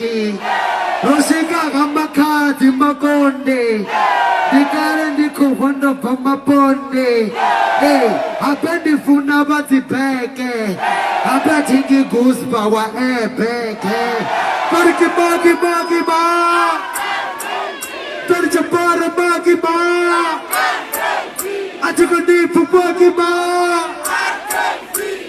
ro swika ha makhadzi makonde ndi kale ndi khou vha ndo bva maponde ee habe ndi funa vha dzibeke habe thi ndi gusba wa ebeke tori kimaki maki ma tori chapara maki ma a thi kho ndi pfupaki ma